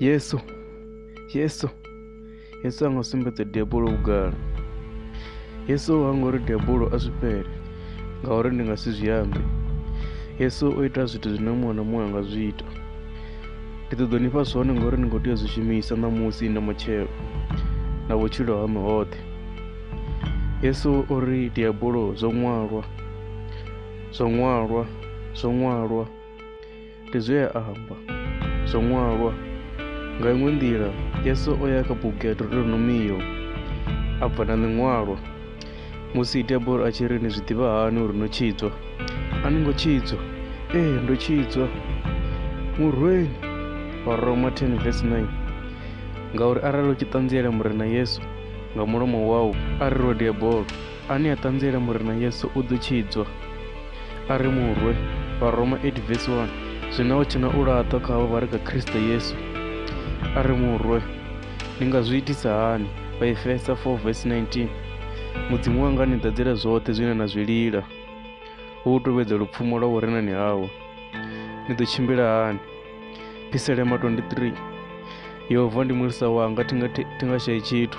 yesu yesu yesu a nga sumbedza debulo vhugala yesu ha nga uri debulo a zwi fhele ngauri ndi nga si zwi ambe yesu o ita zwithu zwine muṅwe na muṅwe a nga zwi ita ndi ṱoḓo ni fha zwone ngauri ni khou tea zwi shumisa ṋamusi na matshelo na vhutshilo ha mihoṱhe yesu o ri diabulo zwo ṅwalwa Zwo ṅwalwa, zwo ṅwalwa, ndi zwe a amba. Zwo ṅwalwa. Nga iṅwe nḓila, Yesu o ya kha bugu ya Deuteronomio a bva na ḽiṅwalwa. Musi diabolo a tshi ri ni zwi ḓivha hani uri no tshidzwa? A ni ngo tshidzwa. Ee, ndo tshidzwa. Murweni wa Roma 10 verse 9 ngauri arali u tshi ṱanziela Murena Yesu nga mulomo wau, a ri rwe diabolo, ane a ṱanziela murena yesu u ḓo tshidzwa a ri murwe vharoma 8 vesi 1 zwino hu tshena u laṱwa kha havho vha ri kha kristo yesu a ri murwe ni nga zwi itisa hani vhaefesa 4 vesi 19 mudzimu wanga ni ḓadzela zwoṱhe zwine na zwi lila hu u tovhedza lupfumo lwa vhurenani hawe ni ḓo tshimbila hani piselema 23 yehova ndi mulisa wanga thi nga shayi tshithu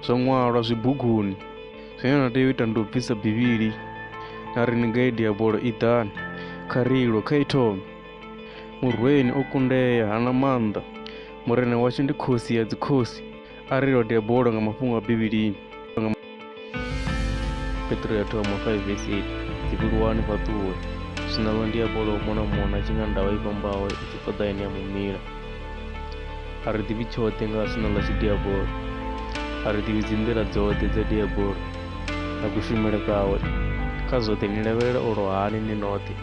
zwo ṅwalwa zwibuguni zwine na tea u ita ndi u bvisa bivhili na ri ni gaidi ya bola i ḓani kha rilo kha ithome murweni o kundea hana maanḓa murena washu ndi khosi ya dzikhosi a ri lode ya bola nga mafhungo a bivhilini petro ya thoma 5 vesi 8 dzivhuluwani fhaṱuwe zwinalwa ndi ya bola u mona mona tshi nga ndavha i vhambaho i tshi fhaḓa ine ya mumila a ri ḓivhi tshoṱhe nga sina ḽa tshidiabolo a ri ḓivhi dzi nḓila dzoṱhe dza diabolo na kushumele kawe kha zwoṱhe ni lavhelela u lwahani ni noṱhe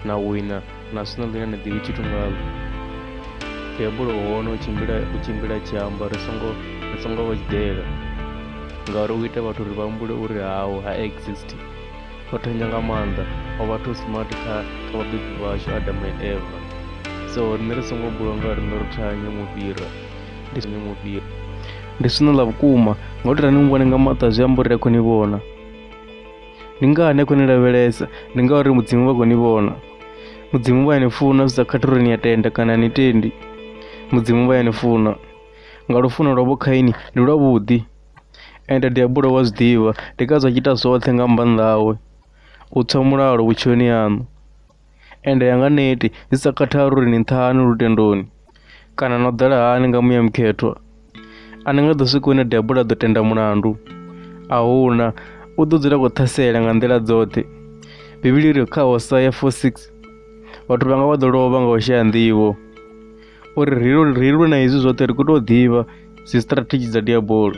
na wina na sina ḽine ni ḓivhi tshithu ngalo diabolo u hone u tshimbila u tshimbila tshi amba ri songo ri songo vha tshiḓela ngauri u ita vhathu uri vha humbule uri hawo ha exist o thonja nga maanḓa o vha too smart kha kha vhabebi vhashu adam and eva so riṋe ri songo bulwa nga riṋe ro thanya mufhira ndi songo mufhira ndi swino ḽa vhukuma nga u tea ni muvhone nga maṱo a zwi amba uri ri a khou ni vhona ndi ngani a khou ni lavhelesa ndi ngauri mudzimu vha khou ni vhona mudzimu vha ya ni funa zwi sa khathi uri ni a tenda kana ni tendi mudzimu vha ya ni funa nga lufuno lwavho khaini ndi lwavhuḓi ende ndi a bulela u zwi ḓivha ndi ngazwo a tshi ita zwoṱhe nga maanḓa awe u tswa mulalo vhutshiloni haṋu ende a nga neti zwi sa khathali uri ni nṱha hani lutendoni kana no ḓala hani nga muya mukhethwa a ni nga ḓo swika hune devhula a ḓo tenda mulandu a huna u ḓo dzula khou ṱhasela nga nḓila dzoṱhe bivhili ri kha hosea 4 6 vhathu vhanga vha ḓo lovha nga u shaya nḓivho uri ri lu- ri lwe na hezwi zwoṱhe ri khou tou ḓivha dzi strategy dza diabolo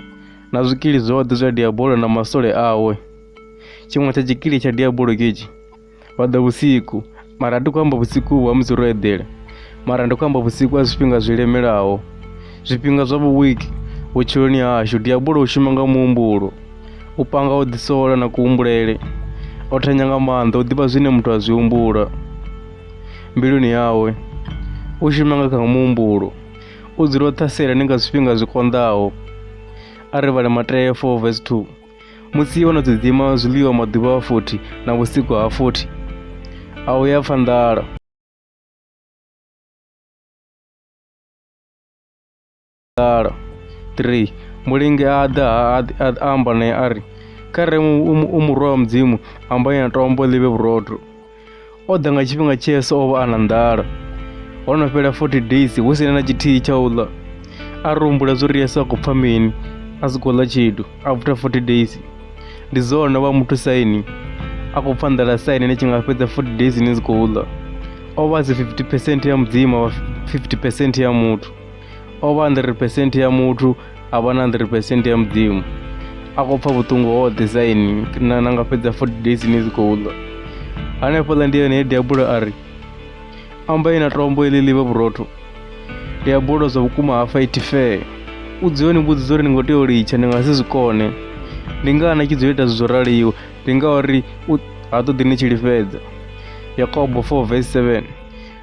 na zwikili zwoṱhe zwa diabolo na masole awe tshiṅwe tsha tshikili tsha diabolo ketshi vha ḓa vhusiku mara a ti khou amba vhusiku vhu ha musi ro eḓela mara ndi khou amba vhusiku ha zwifhinga zwi lemelaho zwifhinga zwa vhuwiki vhutshiloni hashu diabolo u shuma nga muhumbulo u panga u ḓisola na kuhumbulele o thanya nga maanḓa u ḓivha zwine muthu a zwi humbula mbiluni yawe, u shuma nga kha muhumbulo, u dzula o ṱhasela ni nga zwifhinga zwi konḓaho. A ri vhale Mateo 4 vs 2 musi vho no ḓidzima zwiḽiwa maḓuvha a 40 na vhusiku ha 40 a u ya pfa nḓala mulalo. 3, Mulinge a ḓa a, a, a amba naye a ri, Kha re u murwa wa Mudzimu, amba na tombo ḽi vhe vhurotho. O ḓa nga tshifhinga tshe Yesu o vha a na nḓala. Ho no fhela 40 days hu si na tshithihi tsha u ḽa. A ri humbula zwo ri Yesu a khou pfa mini a si khou ḽa tshithu after 40 days. Ndi zwone vha muthu saini a khou pfa nḓala saini ni tshi nga fhedza 40 days ni si khou ḽa. O vha si 50 percent ya Mudzimu, a vha 50 percent ya muthu. o vha 100% ya muthu a vha na 100% ya mudzimu a khou pfa vhuṱungu hoṱhe saini na na nga fhedza 40 days ni dzi khou ḽa hanefhaḽa ndi yone he diabulo a ri ambai na tombo iḽi ḽi vhe vhurotho diabulo zwa vhukuma ha fight fair u dziyoni mbudziso uri ni ngo tea u litsha ni nga si zwi kone ndi ngaha na tshi dzo ita zwo raliwa ndi ngauri ha ṱoḓi ni tshi lifhedza yakobo 4 vs 7